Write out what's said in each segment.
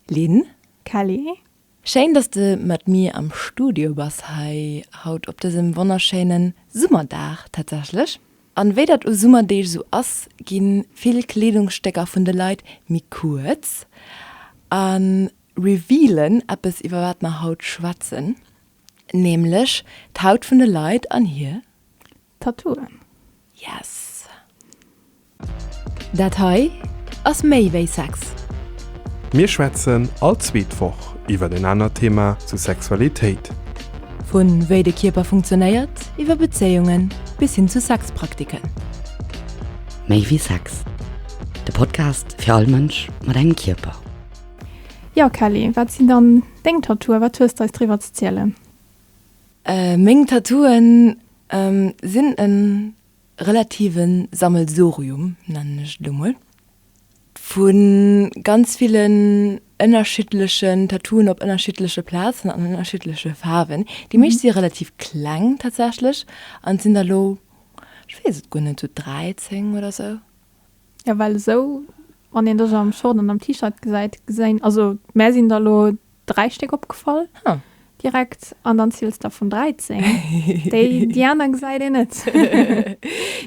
Lynn, Kelly. Schéin dass de mat mir am Studio bass hei haut op dësem wonnerschéinen Summerdag tatsächlech. An wéi dat u Summerdeeg esou ass ginn vill Kleedungsstécker vun de Leit méi kuerz an revealen eppes iwwer wat mer haut schwätzen, nämlech d'Haut vun de Leit an hir Tattooen. Yes! Dat hei ass méi wéi Sex! Mir schwätzen all zweet Woch iwwer en anert Thema zu Sexualitéit. Vu wéi de Kierper funktionéiert, iwwer Bezéiungen bis hin zu Sexpraktiken. Méi wéi Sex, de Podcast fir all Mënsch mat engem Kierper. Jo Kelly, wat sinn dann deng Tattooen? Wat hues d'eis driwwer ze zielen? Meng Tattooen sinn e relative Sammelsurium, nennen ech et elo mol, vu ganz villen ënnerschiddlechen Tattooen op ënnerschiddleche Plazen an ënnerschiddleche Faarwen. Déi meescht si relativ kleng tatsächlech an sinn der elo, ech weess et guer net, esou 13 oder esou. A well esou Wann een dech am Short an am T-Shirt gesäit, geséin also mär sinn der lo 3 Stéck opgefall direkt an dann ziels der vun 13, déi déi aner gesäit een net.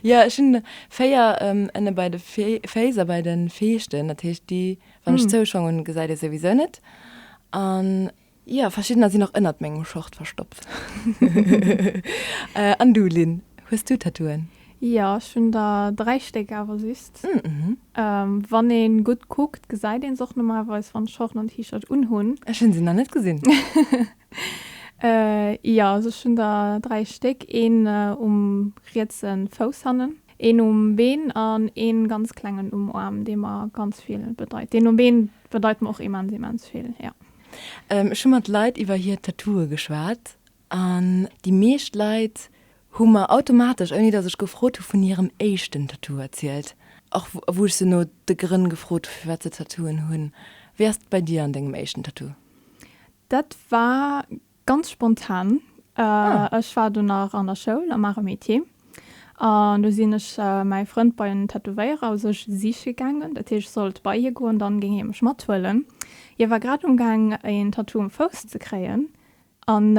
Jo ech hunn 4 ënne bei de Féiss a bei de Feeschten, dat heescht déi wann ech zouschong hunn gesäit ee souwisou net an. Jo, verschiddener sinn och ënnert mengem Short verstoppt. An du, Lynn, hues du Tattooen? Jo, ech hunn der dräi Stéck, awer just. Wann ee gutt kuckt, gesäit een se och normalerweis, wann ech Shorten an T-Shirt unhunn. Ech hunn se nach net gesinn. Jo, also ech hunn der dräi Stéck, een um rietse Fouss hannen, een um Been an ee ganz klengen um Aarm, dee mer ganz vill bedeit. Deen um Been bedeit mer och immens, immens vill, jo. Ech hu mat Leit iwwer hir Tattooe geschwat an déi meescht Leit hu mer automatesch, ouni datt ech gefrot hu, vun hirem éischten Tattoo erzielt, och wou ech se no de Grënn gefrot hu firwat se Tattooen hunn. Wéi ass et bei dir an dengem éischten Tattoo? Dat war Ganz spontan. Ech war do nach an der Schoul, am Art et Métier, an do sinn ech mäi Frënd bei en Tätowéierer u sech siche gaangen. Dat heescht, ech sollt bei hie goen, dann géing hie mech mathuelen. Hie war grad umgaang, een Tattoo um Fouss ze kréien, an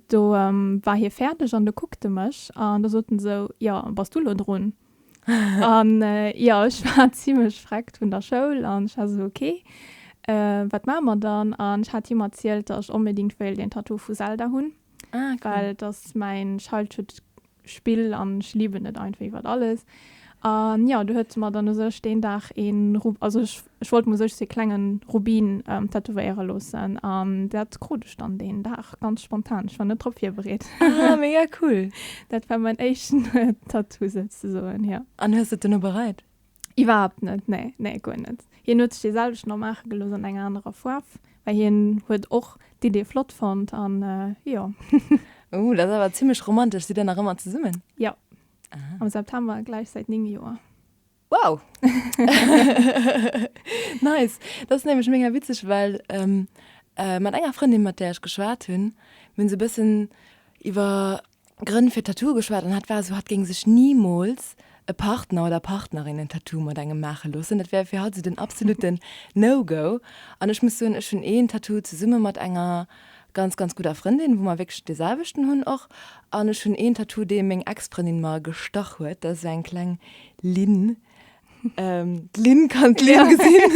do war hie fäerdeg an do kuckt e mech an do sot en esou, Jo, bass du elo drun? an ja ech war zimlech freckt vun der Schoul an ech war sou ok wat maa mer dann an ech hat him erzielt dat ech onbedingt wéilt een Tattoo vu Zelda hunn well et ass mäin Childhood Spill an ech liben et einfach iwwert alles an ja do huet se mer dann u sech deen Dag een also ech Ech wollt mer sech sou ee klengen Rubin tätowéieren loossen an dat krut ech dann deen Dag ganz spontan. Ech war net drop virbereet. Ah mega cool. Dat war mäin éischten Tattoo souzesoen, jo. An hues de et duerno bereit? Iwwerhaapt net, nee, nee guer net. Hien huet sech dee selwechten och maache gelooss an enger anerer Faarf, well hien huet och d'Idee flott fonnt an jo. Oh, dat ass awer zimmlech romantesch. Sidd der nach ëmmer zesummen? Jo, am September gläich säit 9 Joer. Wow! Nice! Dat ass nämlech mega witzeg, well mat enger Frëndin, mat där ech geschwat hunn, mir hunn esou e bëssen iwwer Grënn fir Tattooe geschwat an hatt war esou, hatt géing sech nimools e Partner oder Partnerin en Tattoo mat engem maache loossen. Dat wär fir hatt esou den absolutten No-Go. An ech muss soen, ech hunn een Tattoo zesumme mat enger ganz ganz gudder Frëndin, wou mer wierklech de selwechten hunn och an ech hunn een Tattoo dee meng Ex-Frëndin mer gestach huet, dat ass esou eng kleng Linn. D'Linn kann d'Linn gesinn,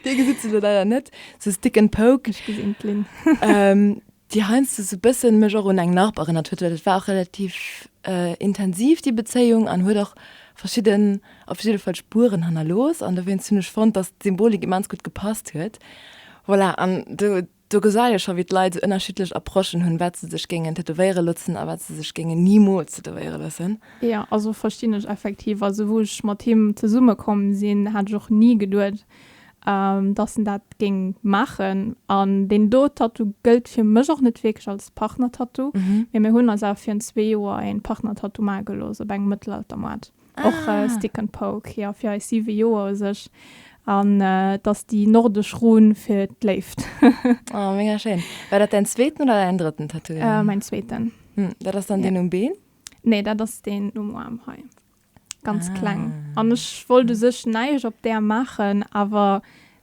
dir gesitt se elo leider net, esou stick and poke, ech gesinn d'Linn, déi heiansdo esou e bëssen mech och un eng Narb erënnert huet, well dat war och relativ intensiv déi Bezéiung an huet och verschidden, op jidde Fall Spueren hannerlooss an dowéinst hunn ech fonnt, dass d'Symbolik immens gutt gepasst huet. Voilà, an do, do gesäit ee scho wéi d'Leit esou ënnerschiddlech Approchen hunn, wat se sech géingen tätowéiere lotzen a wat se sech géingen nimools tätowéiere loossen. Jo, also verstinn ech effektiv. Also wou ech mat him zesumme komm sinn, hat ech och ni geduet, dass en dat géing maachen. An deen do Tattoo gëllt fir mech och net wierklech als Partner-Tattoo, mee mir hunn eis awer virun zwee Joer e Partner-Tattoo maache gelooss op engem Mëttelaltermoart. Ah. Och äh, Stick and Poke, ja, fir eis siwe Joer u sech. An äh, dass déi nordesch Run fir d'Léift. oh, mega schön. War dat dein zweeten oder dein dritten Tattoo? Äh, mein zweeten. Hm, dat ass dann ja. den um Been? Nee, dat ass den um Arm hei. Ganz ah. kleng. An ech wollt u sech neisch op der machen, awer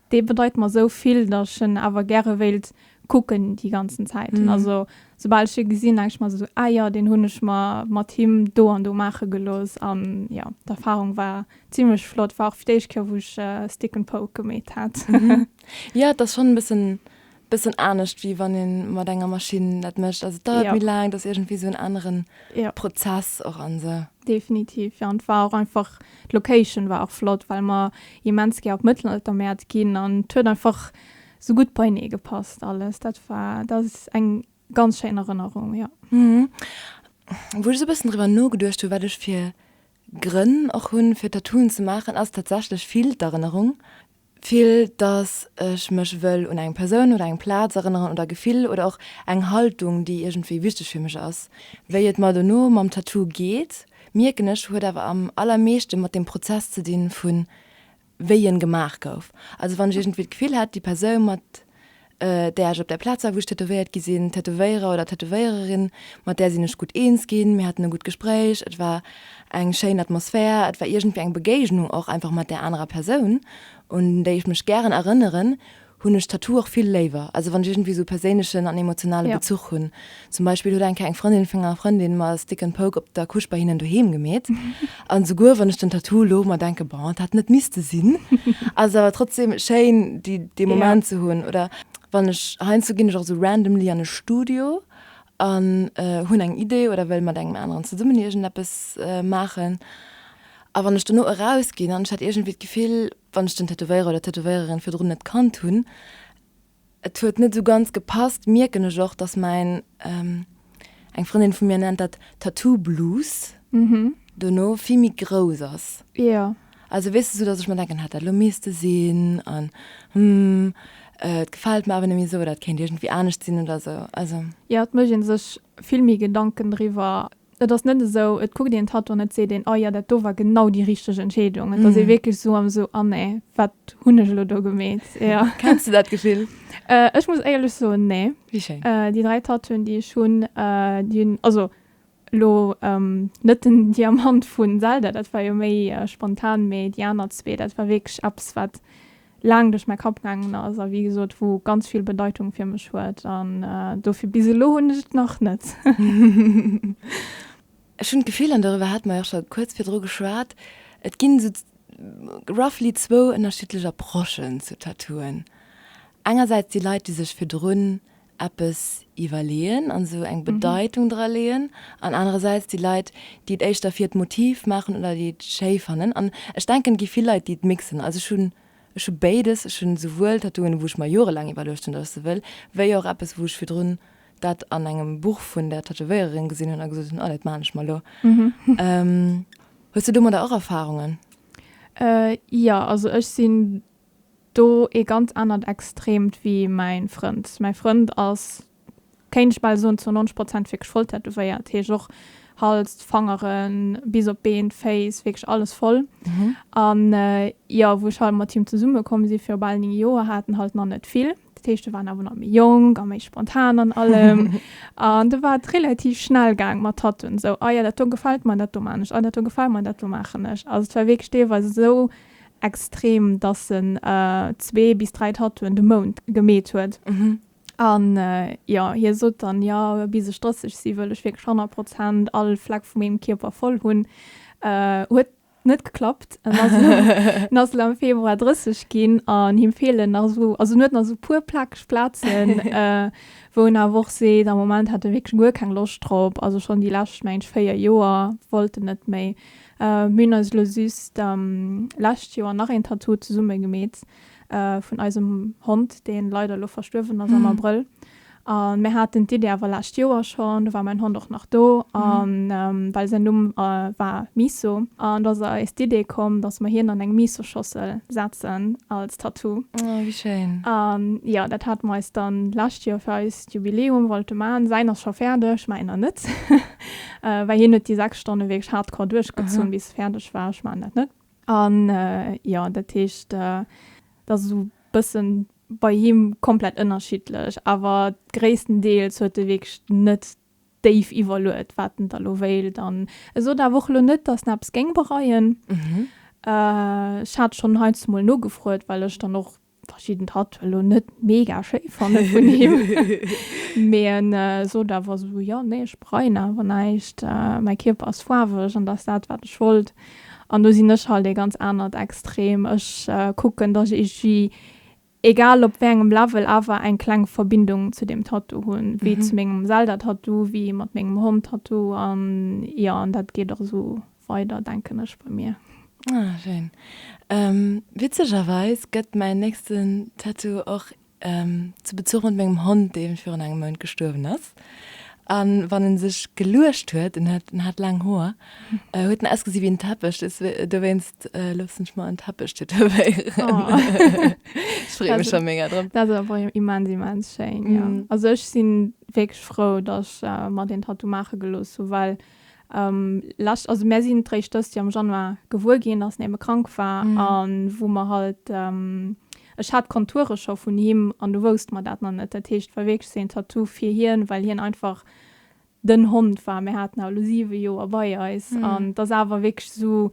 Dee bedeit mer esou vill, datt ech en awer gäre wéilt kucken déi ganzen Zäiten. Also soubal ech e gesinn, denke ech mer esou, Ah jo, deen hunn ech mer mat him do an do maache gelooss. An jo, d'Erfarung war zimmlech flott. War och fir d'éischt Kéier, wou ech Stick and Poke gemeet hat. Jo, et ass schonn e bëssen Bëssen anescht wéi wann ee mat enger Maschinn dat mécht. Also et dauert méi laang, et ass iergendwéi esou en anere Prozess och an esou. Definitiv, jo. An et war och einfach, d'Location war och flott, well mer immens gär op d'Mëttelaltermäert ginn an et huet einfach esou gutt beienee gepasst alles. Dat war, dat ass eng ganz schéin Erënnerung, jo. Wou ech esou e bëssen driwwer nogeduecht hu wat ech fir Grënn och hunn fir Tattooen ze maachen ass tatsächlech vill d'Erënnerung. Vill dass ech mech wëll un eng Persoun oder eng Plaz erënneren oder e Gefill oder och eng Haltung déi iergendwéi wichteg fir mech ass. Wéi et mer dono mam Tattoo geet mierken ech huet awer am allermeeschte mat dem Prozess ze dinn vun wéi en gemaach gouf. Also wann ech iergendwéi d'Gefill hätt, déi Persoun, mat där ech op där Plaz war, wou ech tätowéiert gi sinn, Tätowéierer oder Tätowéiererin, mat där sinn ech gutt eens ginn, mir haten e gutt Gespréich, et war eng schéin Atmosphär, et war iergendwéi eng Begéignung och einfach mat där anerer Persoun, un déi ech mech gären erënneren, hunn ech d'Tattoo och vill léiwer, also wann ech iergendwéi esou e perséinlechen an emotionale Bezuch hunn. Zum Beispill huet eng Kéier eng Frëndin vun enger Frëndin mer e Stick and Poke op der Couche bei hinnen doheem gemeet. An esouguer wann ech den Tattoo elo mer denken, bon, et hätt net misste sinn, ass et awer trotzdem schéin, déi dee Moment ze hunn. Oder wann ech, heiansdo ginn ech och esou randomly an e Studio an hunn eng Idee oder wëll mat engem aneren zesummen iergendeppes maachen a wann ech dono erausginn an ech hat iergendwéi d'Gefill, wann ech den Tätowéierer oder d'Tätowéiererin virdrun net kannt hunn, et huet net esou ganz gepasst, mierken ech och, dass mäin, eng Frëndin vu mir nennt dat Tattoo-Blues, dono vill méi grouss ass. Also weess de, sou datt ech mer denken, hätt dat elo misste sinn an hm, et gefält mer awer net méi esou oder et kéint iergendwéi anescht sinn oder esou. Also. Jo, et mécht ee sech vill méi Gedanken driwwer. Et ass net esou, et kuckt een d'Tato an et seet een, ah jo, dat do war genau déi richteg Entscheedung. Et ass ee wierklech esou am esou, ah nee, wat hunn ech elo do gemeet? Jo. Kenns de dat Gefill? Ech muss éierlech soen, nee. Wéi schéin. Déi dräi Tatoen, déi ech hunn, déi hunn, also Elo net den Diamant vu Zelda, dat war jo méi spontan, mee déi aner zwee, dat war wierklech eppes, wat laang duerch mäi Kapp gaangen ass a wéi gesot, wou ganz vill Bedeitung fir mech huet. An dofir, bis elo hunn ech et nach net. Ech hunn d'Gefill, an doriwwer hate mer jo och scho kuerz virdru geschwat, et ginn esou roughly zwou ënnerschiddlech Approchen zu Tattooen. Engersäits déi Leit, déi sech virdrun eppes iwwerleeën an esou eng Bedeitung dra leeën an anerersäits déi Leit, déi et éischter fir d'Motiv maachen oder déi et schéi fannen an ech denken, et gi vill Leit, déi et mixen. Also ech hunn, ech hu béides, ech hunn esouwuel Tattooen, wou ech mer jorelaang iwwerluecht hunn, datt ech se wëll, wéi och eppes, wou ech virdrun dat an engem Buch vun der Tätowéiererin gesinn hunn a gesot hunn, oh, dat maachen ech mer elo. Hues du domadder och Erfarungen? Jo, also ech sinn do ee ganz anert Extremt wéi mäin Frënd. Mäi Frënd ass, kéint ech bal soen, zou 90 Prozent wierklech voll tätowéiert, heescht och Hals, d'Fangeren, bis op d'Been, d'Féiss, wierklech alles voll. An jo, wou ech halt mat him zesumme komm si viru bal 9 Joer, hat en halt nach net vill. Dat heescht, du waren awer nach méi jonk a méi spontan an allem. an du war relativ schnell gang mat Tatuen. So, ah ja, dat do gefällt mir, dat do man ech. Ah, dat do gefällt mir, dat do maachen ech. Also, et war wierklech deelweis esou extrem, dass en zwee bis dräi Tatuen de Mount gemeet huet. An jo, hie sot dann, jo, bis ech 30 si wëll ech wierklech 100 Prozent all Fleck vu mengem Kierper voll hunn. Huet net geklappt en ass elo en ass elo am Februar 30 ginn an him feelen nach esou also en huet nach esou e puer plakeg Plazen wou en awer och seet am Moment hätt e wierklech guer keng Loscht drop also schonn déi lescht mengt véier Joer wollt en net méi. Mir hunn eis elo just lescht Joer nach een Tattoo zesumme gemeet vun eisem Hond deen leider elo verstuerwen ass am Abrëll A mir haten d'Idee awer lescht Joer schonn, do war mäin Hond och nach do, a well säin Numm war Miso. An da ass eis d'Idee komm, datt mer hien an eng Miso-Schossel setzen als Tattoo. Oh, wéi schéin. A jo, dat hate mer eis dann d'lescht Joer fir eist Jubiläum wollte maachen. Säin ass scho fäerdeg, mäin nach net, well hien huet déi sechs Stonne wierklech hardcore duerchgezunn, bis e fäerdeg war. Ech maachen dat net. An jo, dat heescht, et ass esou bëssen bei him komplett ënnerschiddlech, awer gréisstendeels huet e wierklech net déif iwwerluet, wat en da lo wéilt. An e sot awer och elo net, dass en eppes géing bereien. Ech hat schonn heiansdo mol nogefrot, well ech dann och verschidden Tattouen elo net mega schéi fanne vun him. Mee en sot awer esou, jo, nee, ech bereien awer näischt, mäi Kierper ass faarweg an dat ass dat, wat ech wollt. An do sinn ech halt ee ganz anert Extrem. Ech kucken, datt ech iergendwéi, egal op wéi engem Level, awer eng kleng Verbindung zu deem Tattoo hunn. Wéi zu mengem Zelda-Tattoo, wéi mat mengem Hond-Tattoo an, jo, an dat geet och esou Weider denken ech bei mir. Ah schéin. Witzegerweis gëtt mäin nächsten Tattoo och zu Bezuch mat mengem Hond, dee virun engem Mount gestuerwen ass. A wann en sech geluecht huet, en huet en hat laang Hoer, huet en ausgesi wéi en Teppech. Des, dowéinst loossen ech mer en Teppech tätowéieren. Ech freeë mech scho mega drop. Dat ass awer immens, immens schéin, jo. Also ech si wierklech frou, datt ech mer deen Tattoo maache gelooss hu well Lescht, also mär sinn d'réischt dëst Joer am Januar gewuer ginn, dass Neme krank war a wou mer halt, ech hat d'Konture scho vun him an du wousst mer dat nach net. Dat heescht, et war wierklech seen Tattoo fir hien, well hien einfach den Hond war. Mär haten haut elo 7 Joer bei eis an et ass awer wierklech esou,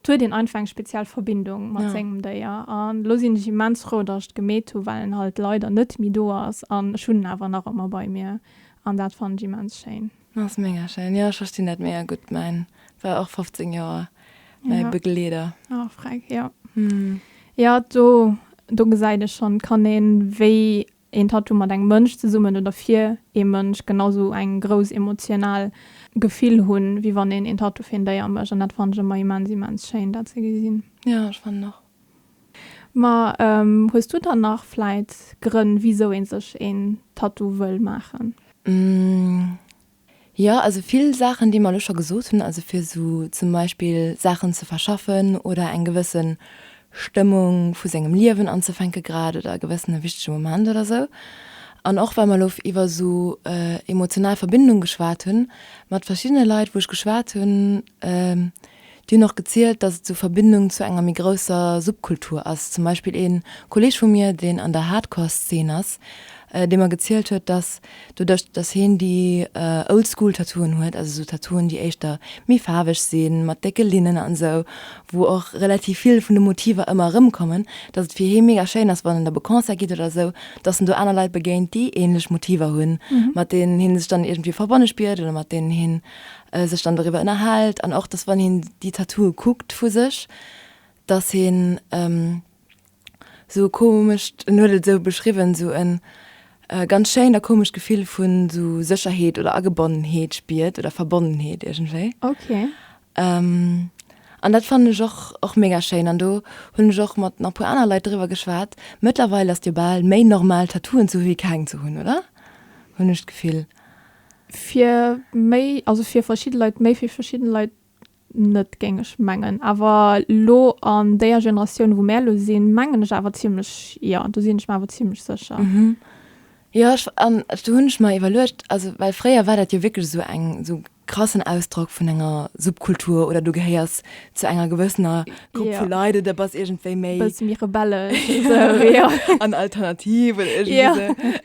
et huet een einfach eng speziell Verbindung mat sengem Déier. An elo sinn ech immens frou, dass ech gemeet hu well en halt leider net méi do ass an ech hunn en awer nach ëmmer bei mir an dat fannen ech immens schéin. Ass mega schéin, jo ech verstinn dat mega gutt, mäin war och 15 Joer mäi Begleeder. Ah freck jo. Jo do do gesäit ee schonn, kann een wéi een Tattoo mat engem Mënsch zesummen oder fir ee Mënsch genau sou eng grouss emotional Gefill hunn, wéi wann een een Tattoo fir een Déier mécht an dat fannen ech ëmmer immens immens schéin dat ze gesinn. Jo ech fannen och. Ma hues du dann nach vläit Grënn, wisou ee sech een Tattoo wëll maachen? Jo, also vill Saachen, déi mer elo scho gesot hunn. Also fir esou zum Beispill Saachen ze verschaffen oder eng gewësse Stëmmung vu sengem Liewen anzefänke grad oder e gewëssene wichtege Moment oder esou. An och well mer elo iwwer esou emotional Verbindung geschwat hunn, mat verschiddene Leit wou ech geschwat hunn, Déi hunn och gezielt, datt et sou Verbindung zu enger méi grousser Subkultur ass. Zum Beispill ee Kolleeg vu mir, deen an der Hardcore-Szene ass, dee mer gezielt huet, datt doduerch, datt heen déi Old-School-Tattooen huet, also sou Tattooen, déi éischter méi faarweg sinn, mat décke Linnen an esou, wou och relativ vill vun de Motiver ëmmer erëmkommen, datt et fir hee mega schéin ass, wann en da op e Concert geet oder esou, datt en do aner Leit begéint, déi änlech Motiver hunn, mat deenen hee sech dann iergendwéi verbonne spiert oder mat deenen heen sech dann doriwwer ënnerhält an och dass wann hien déi Tattooe kuckt vu sech, dass hien sou e komescht, en huet et esou beschriwwen, sou e ganz schéint a komescht Gefill vu sou Sécherheet oder Agebonnenheet spiert oder Verbonnenheet iergendwéi. An dat fannen ech och och mega schéin an do hunn ech och mat nach puer aner Leit driwwer geschwat. Mëttlerweil ass jo bal méi normal Tattooen ze hu wéi keng ze hunn, oder? hunn ech d'Gefill. Fir méi, also fir verschidde Leit méi, fir verschidde Leit net, géing ech mengen. Awer elo an déier Generatioun, wou mär elo sinn, mengen ech awer zimlech, jo, do sinn ech mer awer zimlech sécher. Jo, ech, an do hunn ech mer iwwerluecht, also well fréier war dat jo wierklech esou eng, esou e krassen Ausdrock vun enger Subkultur oder du gehéiers zu enger gewëssener Grupp vu Leit oder bass iergendwéi méi. E bësse méi rebellesch esou, jo. An alternativ oder iergendwéi esou.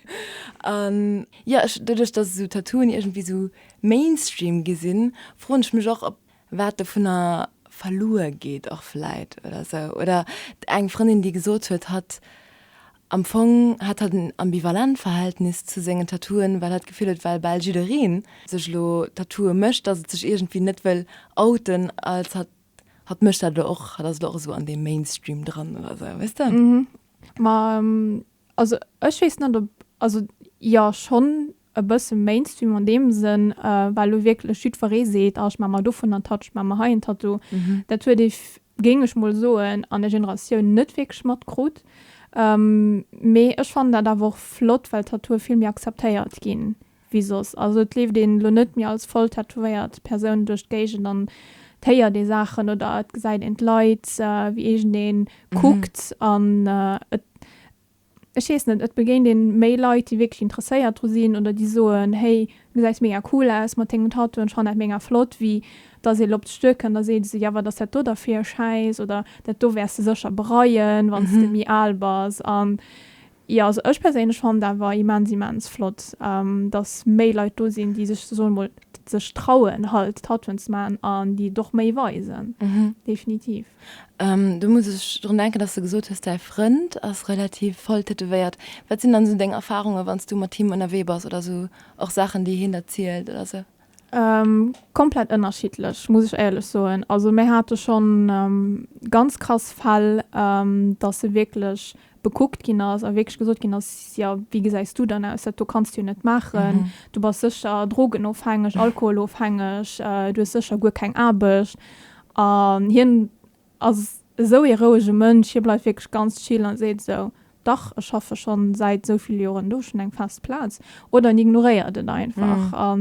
An Jo, ech, doduerch dass esou Tattooen iergendwéi esou Mainstream gi sinn, froen ech mech och, ob wat dovunner verluer geet och vläit oder esou. Oder eng Frëndin, déi gesot huet, hatt am Fong hat hatt en ambivalent Verhältnis zu sengen Tattooen, well hatt d'Gefill huet, well bal jiddereen sech elo Tattooe mécht, dass et sech iergendwéi net wëll outen als hatt, hatt mécht dat elo och, hatt ass elo och esou an deem Mainstream dran oder esou, weess de? Ma Also ech weess net ob, also jo schonn e bësse Mainstream an deem Sënn, well elo wierklech jiddweree seet, ah ech maache mer dovun en Tattoo, ech maache mer hei en Tattoo. Dat huet ee, géing ech mol soen, an der Generatioun net wierklech matkrut. Mee ech fannen dat awer och flott, well Tattooe vill méi akzeptéiert ginn, wéi soss. Also et leeft een elo net méi als voll tätowéiert Persoun duerch d'Géigend an et héiert ee Saachen oder et gesäit een d'Leit, wéi iergendee kuckt an et, ech weess net, et begéint een méi Leit, déi wierklech interesséiert dru sinn oder déi soen, hey, du gesäis mega cool aus mat dengem Tattoo an ech fannen dat mega flott, wéi datt ee lop d'Stur kënnt a seet, jo, wat ass dat do da fir e Schäiss oder dat do wäers de sécher bereien, wann s de méi al bass. An Jo also ech perséinlech fand awer immens immens flott dass méi Leit do sinn déi sech soen emol sech trauen halt Tattooen ze maachen an déi et och méi weisen definitiv. Do muss ech drun denken dass de gesot hues däi Frënd ass relativ voll tätowéiert. Wat sinn dann esou deng Erfarunge wann s du mat him ënnerwee bass oder esou och Saachen déi hien der zielt oder esou? Komplett ënnerschiddlech, muss ech éierlech soen. Also mir hate schonn ganz krass Fäll, datt e wierklech bekuckt ginn ass a wierklech gesot ginn ass, jo wéi gesäis du dann aus, dat do kanns du jo net maachen, du bass sécher drogenofhängeg, alkoholofhängeg, du hues sécher guer keng Aarbecht. An hien Ass esou ee rouege Mënsch, hie bleift wierklech ganz chill a seet esou, Dach, ech schaffe schonn säit esou vill Joren do, ech hunn eng fest Plaz. Oder en ignoréiert et einfach, a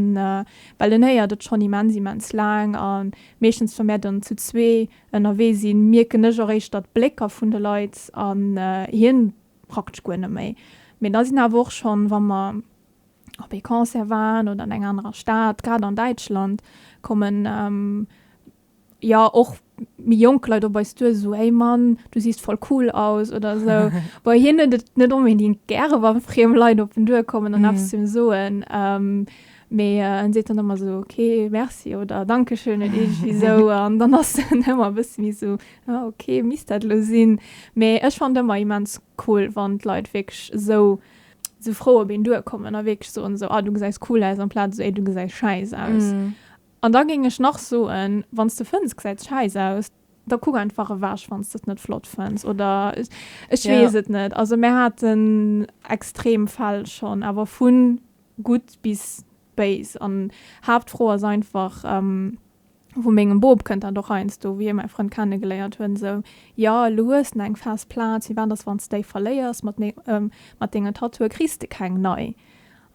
well en héiert et schonn immens, immens laang. A meeschtens, wa mär dann zu zwee ënnerwee sinn, mierken ech och éischter d'Blécker vun de Leit a hien praktesch guer net méi. Mee da sinn awer och schonn, wa mer op ee Concert waren oder an enger anerer Stad, grad an Däitschland, kommen. jo och méi jonk Leit op eis duer esou, hey Mann, du siehst voll cool aus oder esou. Bei hien huet et net onbedingt gäre wann friem Leit op en duer kommen an eppes zu him soen. Ähm, mee äh, en seet dann ëmmer esou, okay, merci oder dankeschön oder iergendwéi esou an dann ass en ëmmer e bësse méi esou, ah, okay, misst dat elo sinn? Mee ech fannen et ëmmer immens cool, wann d'Leit wierklech esou, esou frou op een duer kommen a wierklech soen esou, ah, du gesäis cool aus amplaz esou, ey, du gesäis schäiss aus. An da géing ech nach soen, wann s de fënns, gesäit schäiss aus, da kuck einfach ewech, wann s de et net flott fënns. Oder ech weess et net. Also mir haten extrem Fäll schonn, awer vu gutt bis béis. An d'Haaptfro ass einfach, wou mengem Bop, kënnt dat och heiansdo, wéi hie mäi Frënd kennegeléiert huet, esou, Jo, elo hues de eng fest Plaz, firwat ass, wann s déi verléiers mat deenge Tattooe, kriss de keng nei?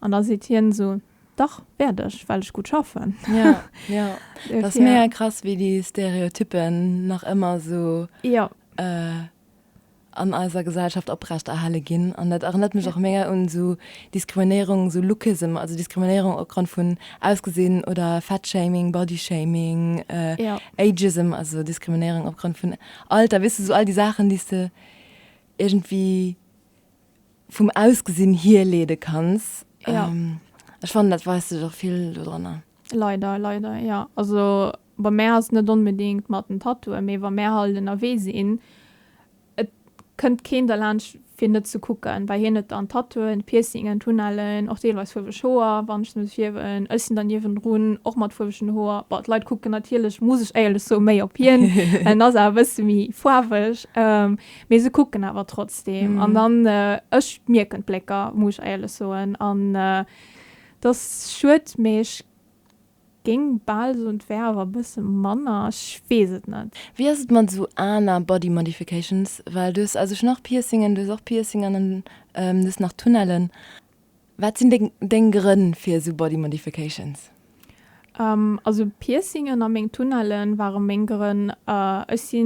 An da seet hien esou, Dach wärt ech, well ech gutt schaffen. Ja, ja. Dat ass mega krass, wéi déi Stereotypen nach ëmmer esou ja. äh, an eiser Gesellschaft oprecht erhale ginn. An dat erinnert mech ja. och mega un so Diskriminierung, so Lookism, also Diskriminierung opgrund vun Ausgesinn oder Fatshaming, Bodyshaming, äh, ja. Ageism, also Diskriminierung opgrund vun Alter, wisst du, so all die Sachen, die du irgendwie vum Ausgesinn hier leede kanns. Ja. Ähm, ech fannen, dat weist sech och vill do dranner. Leider, leider, ja. Also bei mär ass et net onbedéngt mat den Tattooen, mee wa mär halt ënnerwee sinn, et kënnt keen derlaanscht, fir net ze kucken, well hien huet dann Tattooen, Piercingen, Tunnellen, och deelweis fuerweg Hoer, wann ech se muss fierwen. Ech sinn dann niewendrun, och mat fuerwegen Hoer. Bon, d'Leit kucken natierlech, muss ech éierlech soen, méi op hien, well en ass awer e bësse méi faarweg. Mee se kucken awer trotzdeem. An dann, ech mierken d'Blécker, muss ech éierlech soen. An et ass schued, mee ech géing bal soen, et wär awer e bësse manner. Ech weess et net. Wéi ass et mat esou aner Body Modifications? Well du hues a sech nach Piercingen, du hues och Piercingen an du hues nach Tunnellen. Wat sinn deng deng Grënn fir esou Body Modifications? Uhm also Piercingen a meng Tunnellen ware meng Grënn. Ech si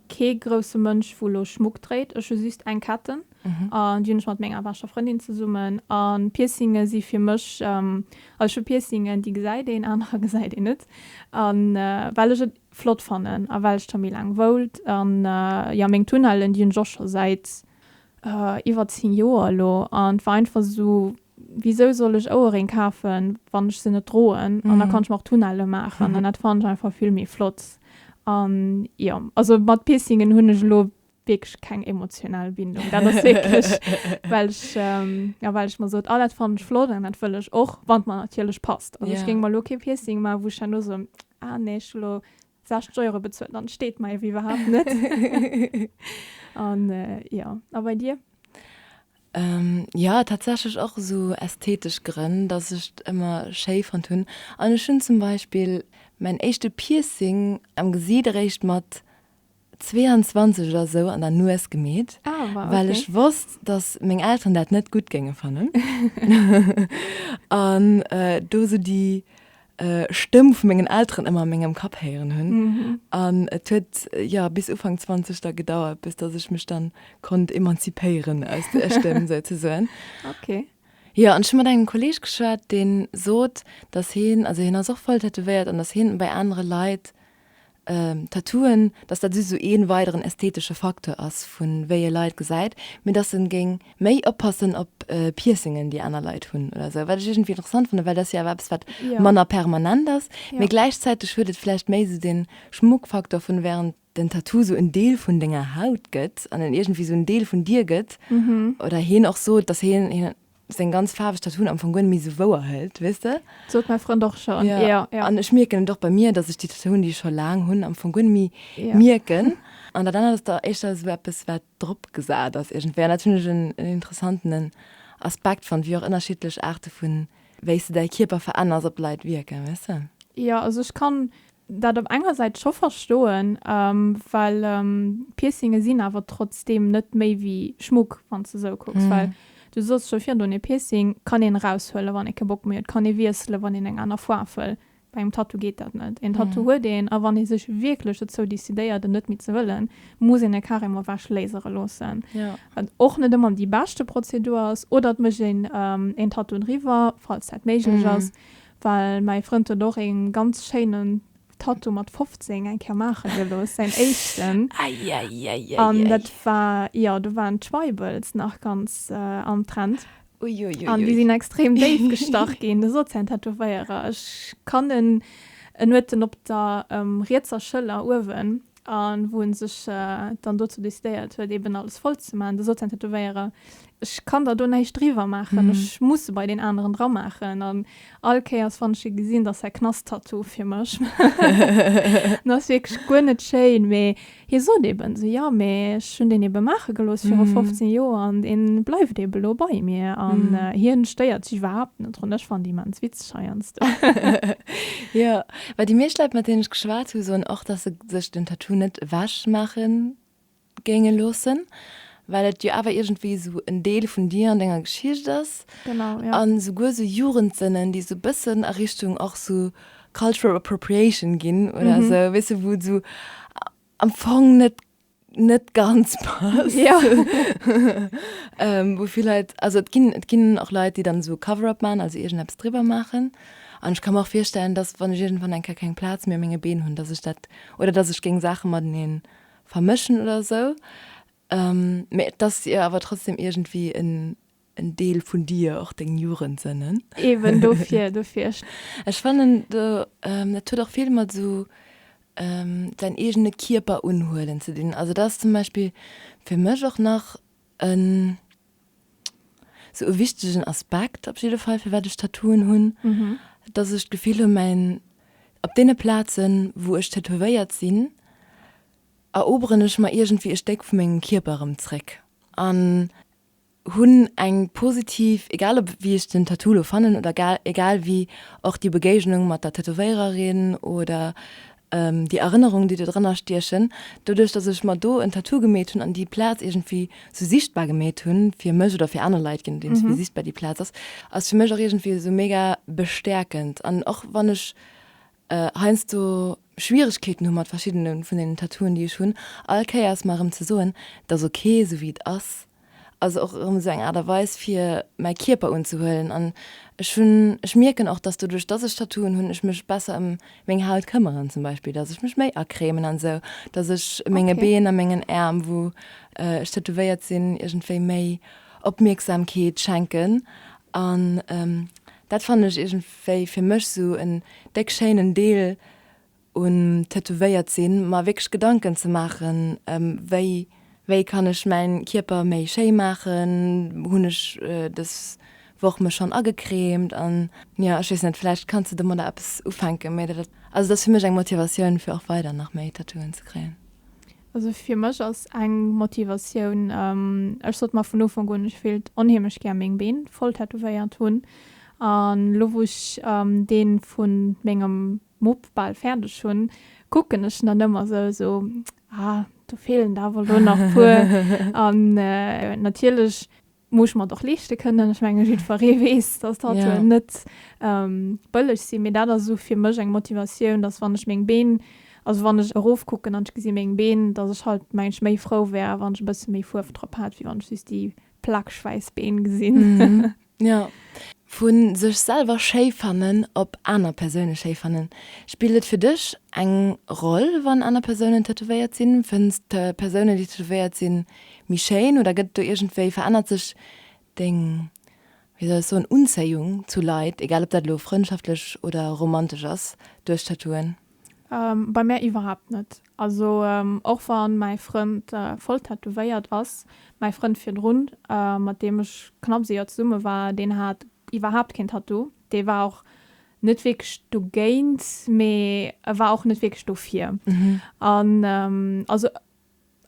kee grousse Mënsch wou lo Schmuck dréit. Ech hu just eng Ketten an déi hunn ech mat menger beschter Frëndin zesummen. An Piercinge si fir mech, also ech hu Piercingen déi gesäit een, anerer gesäit een net. An well ech et flott fannen a well ech der méi laang woult. An jo meng Tunnellen déi hunn ech och scho säit iwwer 10 Joer elo an et war einfach esou, wisou soll ech Ouerréng kafen, wann ech se net droen an da kann ech mer och Tunnelle maachen an dat fannen ech einfach vill méi flott an jo, also mat Piercingen hunn ech elo wierklech keng emotional Bindung, dat ass wierklech well ech jo well ech mer sot, ah dat fannen ech flott an dat wëll ech och, wann et mer natierlech passt, also ech géing mer elo kee Piercing maachen, wou ech herno soen, ah nee ech hu elo 60 Euro bezuelt an et steet mei ewéi iwwerhaapt net. An jo, a bei dir? Jo, tatsächlech och esou ästhetesch Grënn, dass ech et ëmmer schéi fonnt hunn. An ech hunn zum Beispill mäin éischte Piercing am Gesiit eréischt mat 22 oder sou an der Nues gemeet, well ech wosst, datt meng Elteren dat net gutt géinge fannen an do sou déi Stëmm vu mengen Elteren ëmmer a mengem Kapp héieren hunn. An et huet, jo, bis Ufank 20 da gedauert, bis datt ech mech dann konnt emanzipéieren aus där Stëmm souzesoen. Jo, an ech hu mat engem Kolleeg geschwat, deen sot, datt heen, also heen ass och voll tätowéiert an datt heen et bei anere Leit Tattooen, dass dat just esou ee weideren ästhetesche Facteur ass, vu wéi ee Leit gesäit, mee dass en géing méi oppassen op Piercingen, déi aner Leit hunn oder esou. Wat ech iergendwéi interessant fannen, well dat ass jo awer eppes, wat manner permanent ass, mee gläichzäiteg huet et vläicht méi esou dee Schmuckfacteur, vu während den Tattoo esou en Deel vun denger Haut gëtt an en iergendwéi esou en Deel vun dir gëtt oder hien och sot, dass hien seng ganz faarweg Tattooen am Fong guer net méi sou wouer hëlt, weess de? Sot mäi Frënd och schonn, jo. Ja, ja. An ech mierken et och bei mir, dass ech déi Tattooen, déi ech scho laang hunn, am Fong guer net méi yeah. mierken. An dat anert ass da éischter sou eppes, wat drop gesat ass iergendwéi. An dat hunn ech en, en interessantenen Aspekt fonnt, wéi och ënnerschiddlech Aarte vu wéi s de däi Kierper verännerss, op d'Leit wierken, weess de? Jo, also ech kann dat op enger Säit scho verstoen, well Piercinge sinn awer trotzdeem net méi wéi Schmuck, wann s de esou kucks. Well du sooss scho virdrun, e Piercing kann een eraushuelen, wann ee kee Bock méi huet, kann ee wiesselen, wann een eng aner Foarf wëll. Bei engem Tattoo geet dat net. Een Tattoo huet een a wann ee sech wierklech dozou decidéiert, en net méi ze wëllen, muss een e carrément ewech lasere loossen. Wat och net ëmmer déi beschte Prozedur ass. Oder et mécht een een Tattoo driwwer, falls dat méiglech ass. Well mäi Frënd huet och een ganz schéinen Tattoo mat 15 eng Kéier maachen gelooss, säin éischten. An dat war, jo, do waren d'Schweibels nach ganz am Trend. An déi sinn extrem déif gestach ginn, da sot säin Tätowéierer, ech kann en, en huet en op der rietser Schëller uewen, a wou en sech dann dozou decidéiert huet eben alles voll ze maachen, da sot säin Tätowéierer, ech kann der do näischt driwwer maachen, ech muss se bei deen aneren dra maachen an all Kéiers wann ech e gesinn, da ass dat Knasttattoo fir mech. An ass wierklech guer net schéin, mee hie sot eben esou, jo, mee ech hunn deen ebe maache gelooss viru 15 Joer an deen bleift ebe lo bei mir an hien stéiert sech iwwerhaapt net drun. Ech fannen déi immens witzeg heiansdo. Jo, Well déi meescht Leit mat deenen ech geschwat hu soen och, dass se sech den Tattoo net ewech maache géinge loossen, well et jo awer iergendwéi esou en Deel vun dir an denger Geschicht ass. Genau, jo. An esouguer esou Jugendsënnen, déi esou e bëssen a Richtung och esou Cultural Appropriation ginn oder esou, weess de, wou et esou am Fong net net ganz passt. Ja. ähm, wo viel Leute, also et ginn, et ginn auch Leute, die dann so Cover-up machen, also irgendetwas drüber machen. Und ich kann mir auch vorstellen, dass wenn ich irgendwann ein kein Platz mehr menge Been hun, dass ich dat oder dass ich ging Sachen mal den vermischen oder so. Ähm, das ihr aber trotzdem irgendwie in En Deel vun dir, och deng Jugendsënnen. Eben, dofir, dofir. Ech fannen, do, dat huet och vill mat esou säin eegene Kierper unhuelen ze dinn. Also dat ass zum Beispill fir mech och nach e sou e wichtegen Aspekt op jidde Fall, firwat ech Tattooen hunn, datt ech d'Gefill hu mäin, op deene Plazen, wou ech tätowéiert sinn, eroberen ech mer iergendwéi e Stéck vu mengem Kierper erëm zréck. An Hunn eng positiv, egal op wéi ech den Tattoo lo fannen oder egal egal wéi och déi Begéignung mat der Tätowéiererin oder déi Erënnerung déi do dran astiechen. Doduerch dass ech mer do en Tattoo gemeet hunn an déi Plaz iergendwéi sou sichtbar gemeet hunn fir mech oder fir aner Leit, je nodeems wéi sichtbar déi Plaz ass, ass fir mech och iergendwéi sou mega bestäerkend an och wann ech heiansdo Schwieregkeeten hu mat verschiddene vun deenen Tattooen, déi ech hunn, all Kéiers mer erëm ze soen, et ass ok esou wéi et ass, also och erëm esou eng Aart a Weis fir mäi Kierper unzehuelen an ech hunn, ech mierken och, dass doduerch, dass ech Tattooen hunn, ech mech besser ëm meng Haut këmmeren, zum Beispill, dass ech mech méi acremen an esou, dass ech menge Been a mengen Äerm, wou ech tätowéiert sinn, iergendwéi méi Opmierksamkeet schenken an dat fannen ech iergend. wéi fir mech sou en déck schéinen Deel un tätowéiert sinn, mer wierklech Gedanken ze maachen wéi, wéi kann ech mäin Kierper méi schéi maachen, hunn ech dës Woch mech schonn agecremt an jo ech weess net, vläicht kanns de domadder eppes ufänken, mee dat, also dat ass fir mech eng Motivatioun fir och weider nach méi Tattooen ze kréien. Also fir mech ass eng Motivatioun, ech sot mar vun Ufank un, ech wéilt onheemlech gär meng Been voll tätowéiert hunn. An elo wou ech deen vun mengem Mupp bal fäerdeg hunn, kucken ech en dann ëmmer esou esou, ah do feelen der awer elo nach puer. An natierlech muss ech mer et och leeschte kënnen. Ech menge jiddweree weess, dass d'Haltuen net bëlleg sinn, mee dat ass esou fir mech eng Motivatioun, dass wann ech meng Been, also wann ech erofkucken an ech gesi meng Been, dass ech halt menge ech méi frou wär, wann ech e bësse méi Fuerf drop hätt, wéi wann ech just déi plakschwäiss Been gesinn. Vu sech selwer schéi fannen op aner Persoune schéi fannen. Spillt et fir dech eng Roll, wann aner Persounen tätowéiert sinn? Fënns d'Persounen, déi tätowéiert sinn, méi schéin oder gëtt et do iergendwéi, verännert sech deng, wéi soll ech soen, Unzéiung zu Leit, egal ob dat elo frëndschaftlech oder romantesch ass, duerch Tattooen? Bei mär iwwerhaapt net. Also och wann mäi Frënd voll tätowéiert ass, mäi Frënd virdrun, mat deem ech knapps ee Joer zesumme war, deen hat iwwerhaapt keen Tattoo. Dee war och net wierklech dogéint, mee e war och net wierklech dofir. An also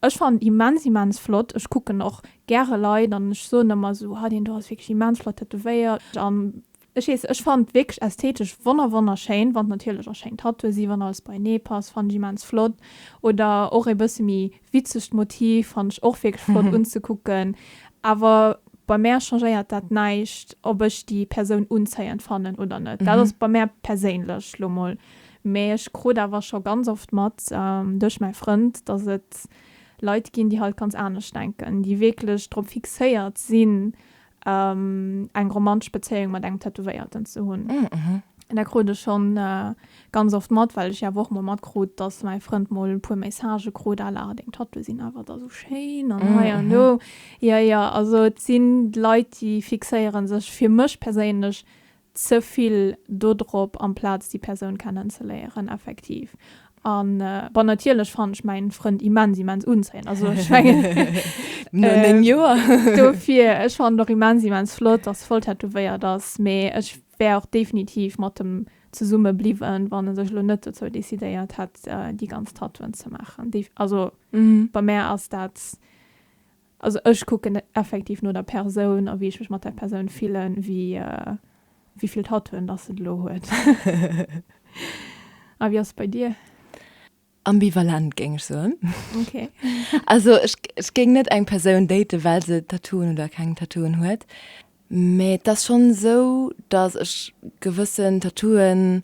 Ech fannen immens immens flott. Ech kucken och gäre Leit an ech soen ëmmer esou, ha deen do ass wierklech immens flott tätowéiert an ech weess ech fannen wierklech ästhetesch wonner wonner schéin wann natierlech och schéin Tattooe sinn wann alles beienee passt fannen ech immens flott oder och ee bësse méi witzegt Motiv fannen ech och wierklech flott unzekucken awer bei mär changéiert dat näischt ob ech déi Persoun unzéiend fannen oder net dat ass bei mär perséinlech lo mol. Mee ech krut awer scho ganz oft mat, duerch mäi Frënd, dass et Leit ginn, déi halt ganz anescht denken, déi wierklech drop fixéiert sinn, eng romantesch Bezéiung mat engem Tätowéierten ze hunn. Dat krut ech schonn ganz oft mat, well ech jo awer och mol matkrut, dass mäi Frënd mol e puer Messagë krut à la, Deng Tattooe sinn awer da sou schéin an hei an do. Jo, jo, also et sinn Leit, déi fixéiere sech fir mech perséinlech ze vill do drop amplaz déi Persoun kennen ze léieren effektiv an bon natierlech fannen ech mäin Frënd immens immens unzéiend also ech mengen no 9 Joer dofir ech fannen och immens immens flott dass voll tätowéiert ass mee ech wär och definitiv mat em zesumme bliwwen wann e sech elo net dozou decidéiert hätt déi ganz Tattooen ze maachen also bei mär ass dat Also ech kucken effektiv no der Persoun a wéi ech mech mat der Persoun fillen, wéi wéi vill Tattooen dass se elo huet. A wéi ass et bei dir? Ambivalent géing ech soen. Ok. Also ech géing net eng Persoun daten, well se Tattooen oder keng Tattooen huet. Mä et ass schonn esou, datt ech gewëssen Tattooen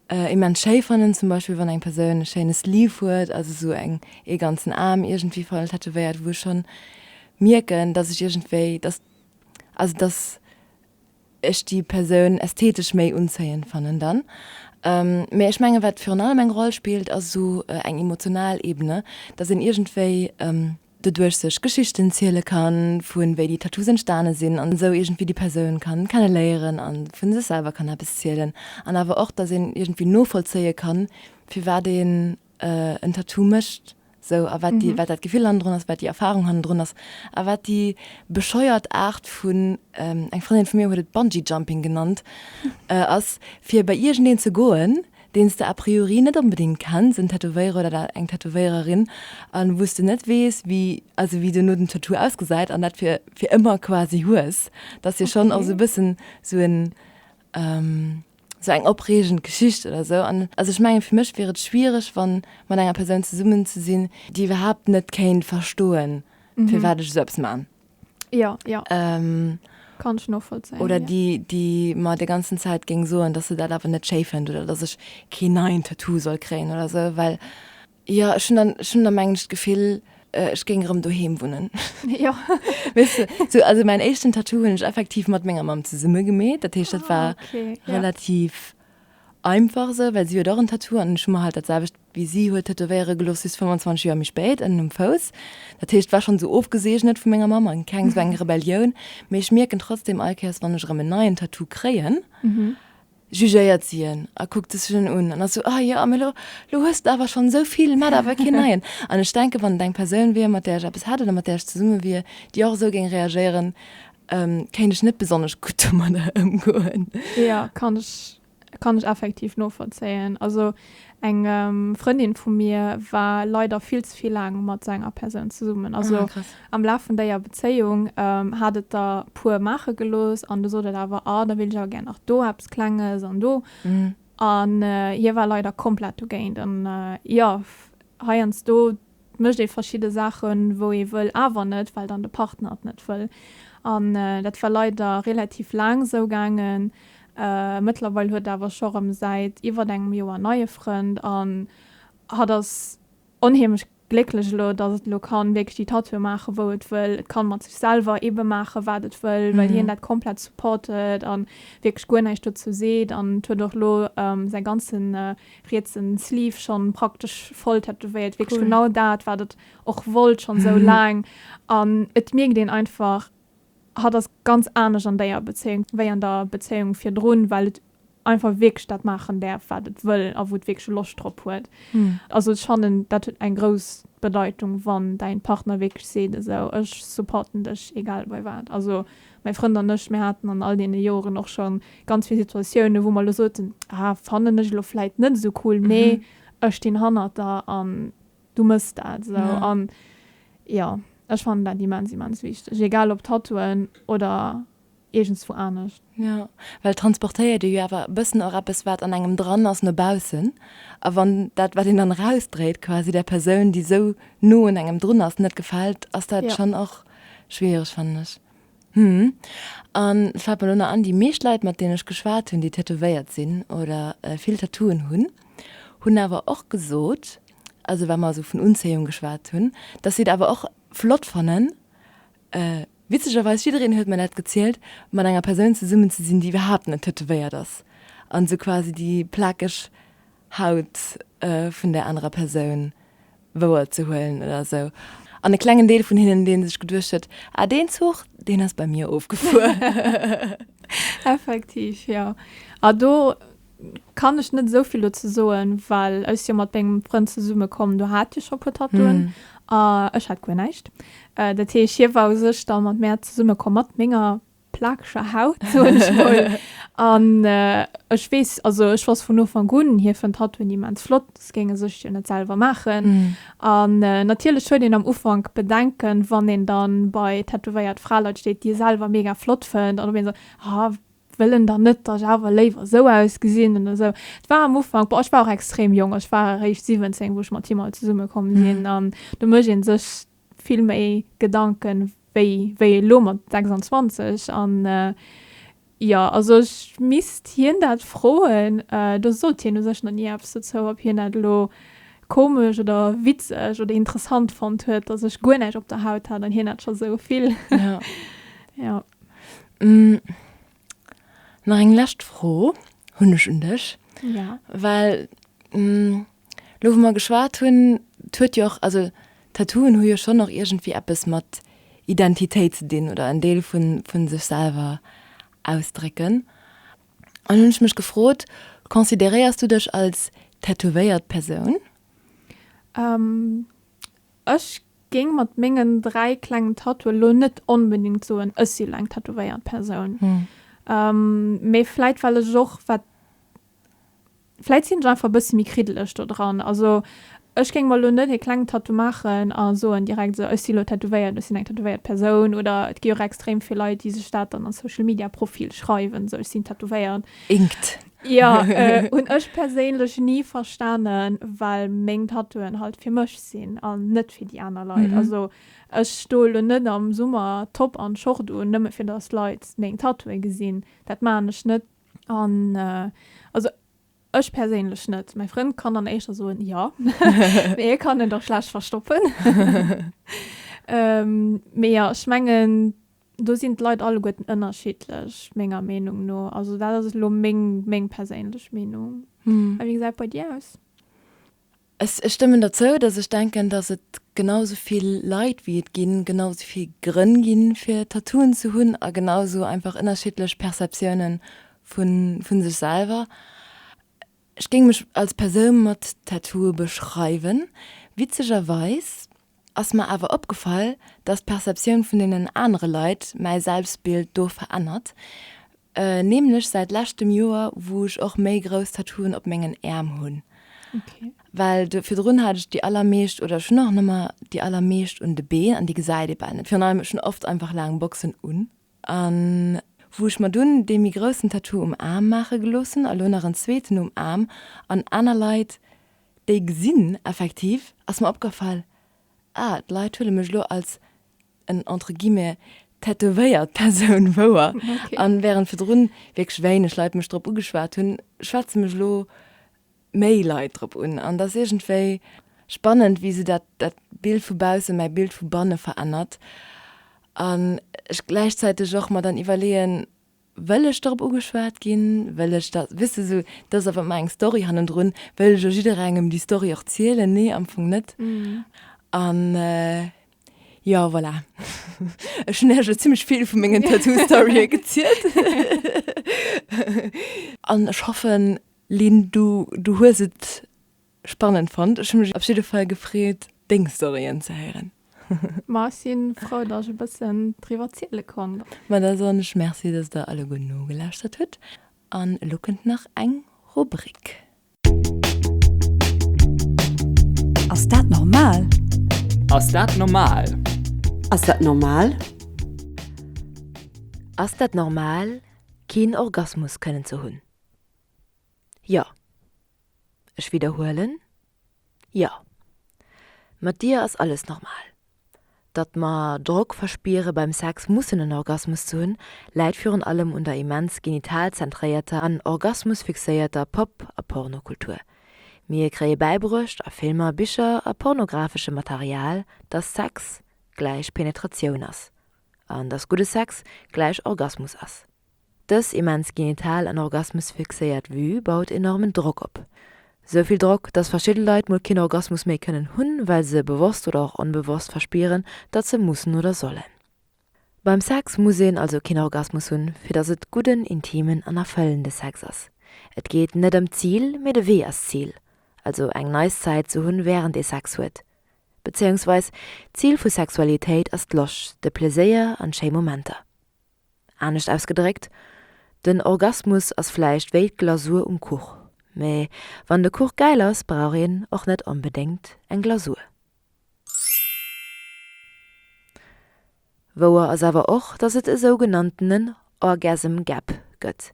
immens schéi fannen. Zum Beispill wann eng Persoun e schéine Sleeve huet, also esou eng ee ganzen Aarm iergendwéi voll tätowéiert, wou ech schonn mierken, datt ech iergendwéi, datt, also datt ech déi Persoun ästhetesch méi unzéiend fannen dann. Mä ech menge wat virun allem eng Roll spillt, ass esou eng emotional Ebene, datt een iergendwéi, doduerch sech Geschichten ziele kann, vu wéi déi Tattoos entstane sinn, an esou iergendwéi déi Persoun kann kenne léieren an vu sech selwer kann eppes zielen, an awer och dass een iergendwéi novollzéie kann firwat een en Tattoo mécht, sou, a wat déi, wat dat Gefill hannendrun ass, wat déi Erfahrung hannendrun ass, a wat déi bescheuert Aart vun, eng Frëndin vu mir huet et Bungee Jumping genannt, ass fir bei iergendeen ze goen, deen s de a priori net onbedéngt kenns, en Tätowéierer oder der eng Tätowéiererin, a wou s de net weess, wéi, also wéi duerno den Tattoo ausgesäit an dat fir fir ëmmer quasi hues, dass jo schonn och sou e bëssen sou en, sou eng opreegend Geschicht oder sou. An also ech mengen, fir mech wier et schwiereg, wann mat enger Persoun zesummen ze sinn, déi iwwerhaapt net kéint verstoen, firwat ech esou eppes man. Ja, ja. Ähm, Kann ich nachvollziehen. Oder ja. die, die mir die ganze Zeit ging so, dass sie das aber nicht schön findet oder dass ich kein neuen Tattoo soll kriegen oder so, weil ja, schon dann, schon dann manchmal das Gefühl, äh, ich ging rum daheim wohnen. Ja. weißt du, so, also mein ersten Tattoo habe ich effektiv mit meiner Mom zusammen gemäht. Das heißt, das ah, war okay. relativ. Ja Einfach esou, well si huet och en Tattoo an ech hu mer halt dat selwecht wéi si huet tätowéiere gelooss, just 25 Joer méi spéit, ënnen um Fouss. Dat heescht, war schonn esou ofgeseegnet vu menger Mamm a keng esou eng Rebellioun. Mee ech mierken trotzdem all Kéiers, wann ech erëm en neien Tattoo kréien, jugéiert si en a kuckt sech en un an ass esou, Ah jo, mee elo hues de der awer schonn esou vill, maach der awer keen neien. An ech denken, wann et eng Persoun wier, mat där ech eppes hätt oder mat där ech zesumme wier, déi och esou géing reagéieren, Ähm, kéint ech net besonnesch gutt domadder ëmgoen. Ja, kann ech, kann ech effektiv novollzéien. Also eng ähm, Frëndin vu mir war leider vill ze vill laang mat esou enger Persoun zesummen. Also Ah, krass. am Laf vun déier Bezéiung ähm, hat et der puer maache gelooss an du sot et awer, ah, da wéilt ech awer gär nach do eppes Klenges an do. Mhm. An äh, hie war leider komplett dogéint. An äh, ja, f- heiansdo Et mécht ee verschidde Saachen, wou ee wëll, awer net, well dann de Partner et net wëll. An dat war leider relativ laang esou gaangen. Mëttlerweil huet awer scho rëm säit iwwert engem Joer en neie Frënd an hatt ass onheemlech glécklech elo, dass et elo kann wierklech déi Tattoue maachen, wou et wëll. Et kann mat sech selwer eebe maachen, wat et wëll, well hien dat komplett supportet an wierklech guer näischt dozou seet. An et huet och elo säi ganze rietsen Sleeve schonn praktesch voll tätowéiert, wierklech genau dat wat et och wollt schonn esou laang an et mierkt een einfach hatt ass ganz anescht an déier Bezéiung wéi an der Bezéiung virdrun, well et einfach wierklech dat maachen däerf wat et wëll a wou et wierklech Loscht drop huet. Also ech fannen dat huet eng grouss Bedeitung wann däin Partner wierklech seet esou ech supporten dech egal bei wat, also Mäi Frënd an ech, mir haten an all deene Joeren och scho ganz vill Situatiounen, wou mer elo soten, ah, fannen ech elo vläit net esou cool, mee ech stinn hannert der an du mëss dat esou. An jo, ech fannen dat immens, immens wichteg, egal ob Tattooen oder iergendswou anescht. Jo, well transportéiert ee jo awer e bëssen och eppes, wat an engem dran ass, no baussen. A wann dat, wat een dann erausdréit, quasi där Persoun, déi esou no un engem drun ass, net gefält, ass dat schonn och. Schwiereg fannen ech. Hm. An et fällt mer elo nach an, déi meescht Leit mat deenen ech geschwat hunn, déi tätowéiert sinn oder vill Tattooen hunn, hunn awer och gesot, also wa mer esou vun Unzéiung geschwat hunn, dass si et awer och flott fannen, witzegerweis, jiddereen huet mer dat gezielt, mat enger Persoun zesummen ze sinn, déi iwwerhaapt net tätowéiert ass an esou quasi déi plakeg Haut vun där anerer Persoun wouer ze huelen oder esou. An e klengen Deel vun hinnen, dee sech geduecht huet, Ah, deen Zuch, deen ass bei mir ofgefuer. Effektiv, jo. A do kann ech net esou vill dozou soen, well ech si jo mat mengem Frënd zesummekomm, do hat hie scho e puer Tattooen a ech hat guer näischt. Dat heescht, hie war u sech da mat mär zesummekomm, mat menger plakeger Haut, soen ech mol. An ech weess, also ech wosst vun Ufank un, hie fënnt Tattooen immens flott, soss géing e sech jo net selwer maachen. An natierlech huet een am Ufank Bedenken, wann een dann bei tätowéiert Fraleit steet, déi e selwer mega flott fënnt, an op eemol sot, Ha, wëll en dann net, datt ech awer léiwer esou ausgesinn? Oder esou. Et war am Ufank, boah, ech war och extrem jonk, ech war eréischt 17, wou ech mat him all zesumme komm sinn. An do mécht ee sech vill méi Gedanken wéi wéi elo mat 26 an jo also ech misst hien dat froen, do sot hien u sech nach ni eppes dozou ob hien dat elo komesch oder witzeg oder interessant fonnt huet dass ech guer näischt op der Haut hat an hien hat scho sou vill jo. Nach eng lescht Fro hunn ech un dech, well Lo wou mer geschwat hunn, 't huet jo och, also Tattooen hu jo schonn och iergendwéi eppes mat Identitéit ze dinn oder en Deel vu vu sech selwer ausdrécken. An hunn ech mech gefrot, consideréiers du dech als tätowéiert Persoun? Ech géing mat mengen dräi klengen Tattooe lo net onbedéngt soen, ech si lo eng tätowéiert Persoun. Mee vläit well ech och, wat Vläit sinn ech einfach e bëssi méi kriddeleg do dran. Also ech géing mer elo net e klengen Tattoo maachen a soen direkt esou, ech si elo tätowéiert, ech sinn eng tätowéiert Persoun. Oder et gi och extrem vill Leit, déi sech dat dann an d'Social Media Profil schreiwen, esou, ech sinn tätowéiert. Inked. Jo, hunn ech perséinlech ni verstanen, well meng Tattooen halt fir mech sinn an net fir déi aner Leit. Also ech stoe elo net am Summer Top an Short un, nëmme fir datt Leit meng Tattooe gesinn. Dat maachen ech net An also ech perséinlech net. Mäi Frënd kann dann éischter soen, jo, mee e kann en da schlecht verstoppen. Mee jo, ech mengen, do sinn d'Leit alleguerten ënnerschiddlech, menger Meenung no. Also dat ass elo meng, meng perséinlech Meenung. A wéi gesäit et bei dir aus? Ech stëmmen derzou, dass ech denken, dass et genau esou vill Leit wéi et ginn, genau esou vill Grënn ginn, fir Tattooen ze hunn a genau esou einfach ënnerschiddlech Perceptiounen vu sech selwer. Ech géing mech als Persoun mat Tattooe beschreiwen. Witzegerweis ass mer awer opgefall, dass d'Perceptioun vun deenen anere Leit mäi Selbstbild do verännert, Nämlech säit leschtem Joer, wou ech och méi grouss Tattooen op mengen Äerm hunn. Well virdrun hat ech déi allermeescht, oder ech hunn och nëmmer déi allermeescht un de Been, an déi gesäit ee bal net. Virun allem, ech hunn oft einfach laang Boxen un. A wou ech mer dunn dee méi groussen Tattoo um Aarm maache gelooss hunn, a lo nach en zweeten um Aarm, an aner Leit déi gesinn, effektiv ass mer opgefall, ah, d'Leit huele mech elo als en entre guillemets tätowéiert Persoun wouer an während virdrun wierklech wéineg Leit mech drop ugeschwat hunn, schwätze mech elo méi Leit drop un an et ass iergendwéi spannend wéi esou dat dat Bild vu bausse mäi Bild vu banne verännert an ech gläichzäiteg och mer dann iwwerleeën, Wëll ech dorop ugeschwat ginn? Wëll ech dat, weess de, sou, dat ass awer ëmmer eng Story hannendrun, wëll ech elo jidderengem déi Story och zielen? Nee, am Fong net. An jo, voilà, ech hunn iech elo zimlech vill vu mengen Tattoo-Storye gezielt. An ech hoffen, Lynn, du, du hues et. Spannend fonnt. Ech hu mech op jidde Fall gefreet deng Storyen ze héieren. Ma ech si frou dass ech e bëssen driwwer ziele konnt. Ma da soen ech Merci dass der alleguer nogelauschtert hutt an elo kënnt nach eng Rubrik. Ass dat normal? Ass dat normal? Ass dat normal? Ass dat normal keen Orgasmus kënnen ze hunn? Jo. Ech widderhuelen, Jo. Mat dir ass alles normal. Datt mer Drock verspiere beim Sex mussen en Orgasmus ze hunn, läit virun allem un der immens genital-zentréierter an orgasmus-fixéierter Pop a Pornokultur. Mir kréie bäibruecht a Filmer, Bicher a pornografesche Material, datt Sex gläich Penetratioun ass an datt gudde Sex gläich Orgasmus ass. Dës immens genital an orgasmusfixéiert Vue baut enormen Drock op. Sou vill Drock, datt verschidde Leit mol keen Orgasmus méi kënnen hunn, well se bewosst oder och onbewosst verspieren, datt se mussen oder sollen. Beim Sex muss een also keen Orgasmus hunn, fir datt et gudden, intimen an erfëllende Sex ass. Et geet net ëm d'Zil, mee de Wee ass d'Zil. Also eng nice Zäit ze hunn, wärend ee Sex huet. Bezéiungsweis, d'Zil vu Sexualitéit ass d'Loscht, de Pleséier an schéi Momenter. Anescht ausgedréckt, den Orgasmus ass vläicht wéi d'Glasur um Kuch, mee wann de Kuch gäil ass, brauch een och net onbedéngt eng Glasur. Wouer ass awer och, dass et e sougenanntenen Orgasm Gap gëtt.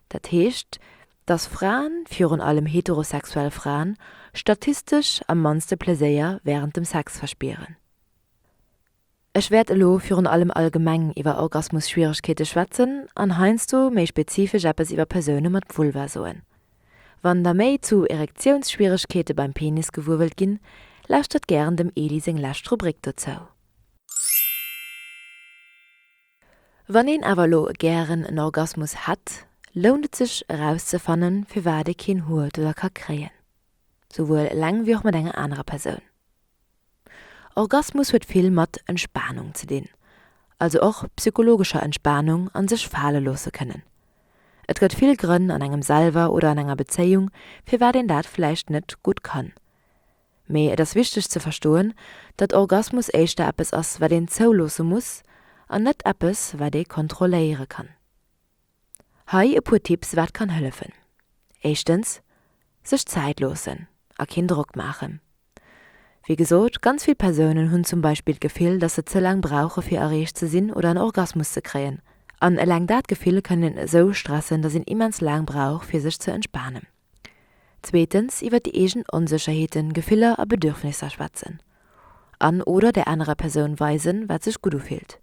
Dat heescht, dass Fraen, virun allem heterosexuell Fraen, statistesch am mannste Pleséier wärend dem Sex verspieren. Ech wäert elo virun allem allgemeng iwwer Orgasmusschwieregkeete schwätzen an heiansdo méi spezifesch eppes iwwer Persoune mat Vulva soen. Wann der méi zu Erektiounsschwieregkeete beim Penis gewuer wëllt ginn, lauschtert gären dem Eli seng lescht Rubrik dozou. Wann een awer elo gären en Orgasmus hätt, lount et sech erauszefanne firwat ee keen huet oder ka kréien. Souwuel eleng wéi och mat enger anerer Persoun. Orgasmus huet vill mat Entspanung ze dinn, also och psychologescher Entspanung an sech fale loosse kënnen. Et gëtt vill Grënn an engem selwer oder an enger Bezéiung, firwat een dat vläicht net gutt kann. Mee et ass wichteg ze verstoen, datt Orgasmus éischter eppes ass wat een zouloosse muss an net eppes wat ee kontrolléiere kann. Hei e puer Tipps wat kann hëllefen. Éischtens, sech Zäit loossen a keen Drock maachen. Wéi gesot, ganz vill Persounen hunn zum Beispill d'Gefill, dass se ze laang brauche fir erreecht ze sinn oder en Orgasmus ze kréien. An eleng dat Gefill kann een esou stressen, dass een immens laang brauch fir sech ze entspanen. Zweetens iwwer déi eegen Onsécherheeten, Gefiller a Bedürfnisser schwätzen an, oder der anerer Persoun weisen, wat sech gutt ufillt.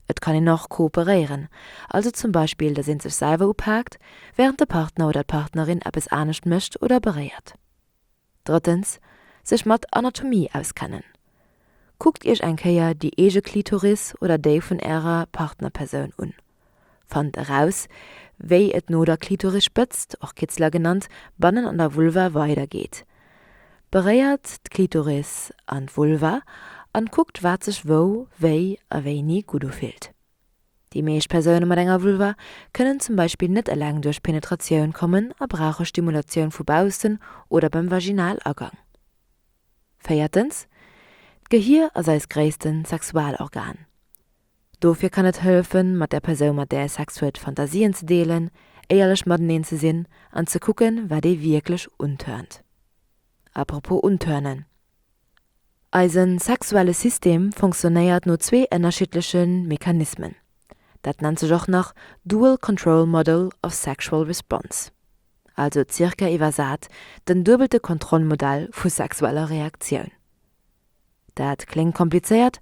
Et kann een och kooperéieren, also zum Beispill, dass een sech selwer upaakt, während de Partner oder d'Partnerin eppes anescht mécht oder beréiert. Drëttens, sech mat Anatomie auskennen. Kuckt iech eng Kéier déi eege Klitoris oder déi vun ärer Partnerpersoun un. Fannt eraus, wéi et no der Klitorisspëtzt, och Kitzler genannt, bannen an der Vulva weidergeet. Beréiert d'Klitoris an d'Vulva an kuckt wat sech wou, wéi a wéini gutt ufillt. Déi meescht Persoune mat enger Vulva kënnen zum Beispill net eleng duerch Penetratioun kommen a brauche Stimulatioun vu baussen oder beim Vaginalagang. Véiertens, D'Gehir ass eist gréisste Sexualorgan. Dofir kann et hëllefen, mat der Persoun, mat där ee Sex huet, Fantasien ze deelen, éierlech mateneen ze sinn an ze kucken, wat ee wierklech untörnt. Apropos untörnen. Eise sexuelle System fonctionnéiert no zwee ënnerschiddleche Mechanismen. Dat nennt sech och nach Dual Control Model of Sexual Response, also ca. Iwwersat den duebelte Kontrollmodell vu sexueller Reaktioun. Dat kléngt komplizéiert,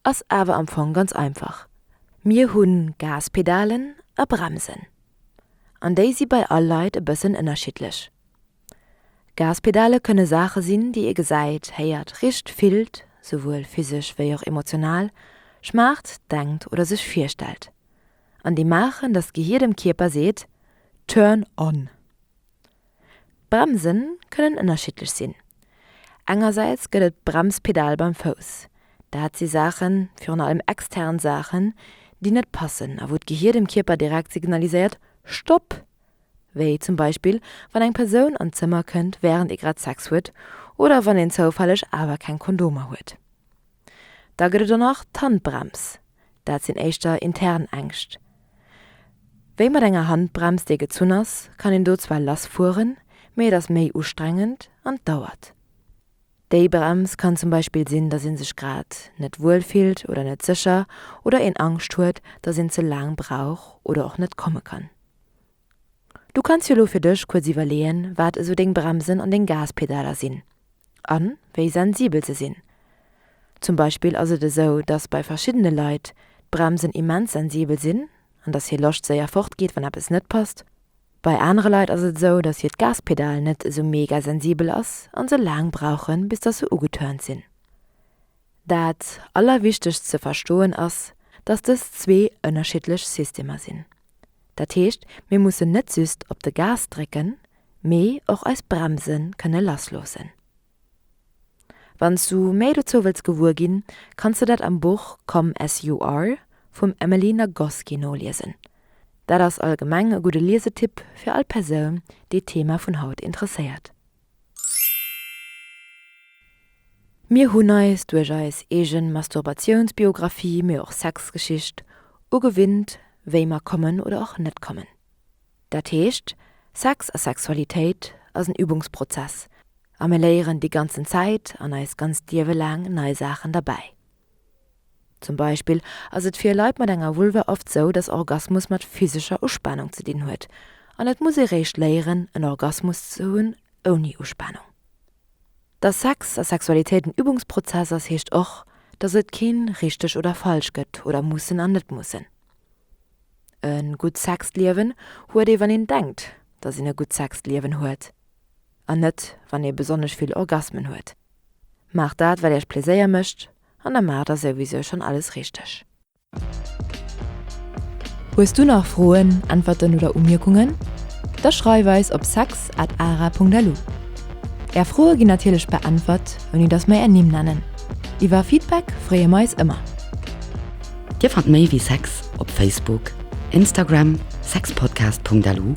ass awer am Fong ganz einfach. Mir hu Gaspedalen a Bremsen, an déi si bei all Leit e bëssen ënnerschiddlech. Gaspedale kënne Saache sinn, déi ee gesäit, héiert, richt, fillt, souwuel physesch wéi och emotional, schmaacht, denkt oder sech virstellt. An déi maachen, datt d'Gehir dem Kierper seet, Turn on! D'Bremse kënnen ënnerschiddlech sinn. Engersäits gëtt et d'Bremspedal beim Fouss. Dat si Saachen, virun allem extern Saachen, déi net passen a wou d'Gehir dem Kierper direkt signaliséiert, Stopp! wéi zum Beispill wann eng Persoun an d'Zëmmer kënnt wärend ee grad Sex huet oder wann een zoufälleg awer keng Kondomer huet. Da gëtt et och nach d'Handbrems, dat sinn éischter intern Ängscht, wéi mat enger Handbrems déi gezunn ass kann een do zwar lass fueren, mee et ass méi ustrengend an et dauert. Déi Brems kann zum Beispill sinn, datt ee sech grad net wuel fillt oder net sécher oder een Angscht huet, datt een ze laang brauch oder och net komme kann. Du kanns jo lo fir dech kuerz iwwerleeën, wat esou deng Bremsen an deng Gaspedaler sinn a wéi sensibel se sinn. Zum Beispill ass et esou, dass bei verschiddene Leit d'Bremsen immens sensibel sinn an dass hir Loscht séier fortgeet, wann eppes net passt. Bei anere Leit ass et esou, dass hiert Gaspedal net esou mega sensibel ass a se laang brauchen, bis dass se ugetörnt sinn. Dat Allerwichtegst ze verstoen ass, dass dës zwee ënnerschiddlech Systemer sinn. Dat heescht, mir mussen net just op de Gas drécken, mee och eis Bremse kënne lassloossen. Wann s du méi dozou wëlls gewuer ginn, kanns de dat am Buch Come As You Are vum Emily Nagoski noliesen. Dat ass allgemeng e gudde Liesetipp fir all Persoun, déi d'Thema vun haut interesséiert. Mir hunn eis duerch eis eegen Masturbatiounsbiographie, mee och Sexgeschicht, ugewinnt wéi mer kommen oder och net kommen. Dat heescht, Sex a Sexualitéit ass en Übungsprozess a mir léieren déi ganzen Zäit an eis ganz d'Liewe laang nei Saachen derbäi. Zum Beispill ass et fir Leit mat enger Vulva oft sou, dass Orgasmus mat physescher Uspanung ze dinn huet, an et muss ee réischt léieren, en Orgasmus ze hunn ouni Uspanung. Dass Sex a Sexualitéit en Übungsprozess ass, heescht och, dass et keen richteg oder falsch gëtt oder mussen an net mussen. E gutt Sexliewen huet ee wann een denkt, dass een e gutt Sexliewen huet. an net wann ee besonnesch vill Orgasmen huet. Maacht dat wat iech Pleséier mécht an da maacht der souwisou schonn alles richteg. Hues du nach Froen, Äntwerten oder Umierkungen? Da schreif eis op sex at ara Punkt lu. Är Froe ginn natierlech beäntwert ouni dass mer är Nimm nennen. Iwwer Feedback freeë mer eis ëmmer. Dir fannt méi wéi Sex op Facebook, Instagram, sexpodcast Punkt lu.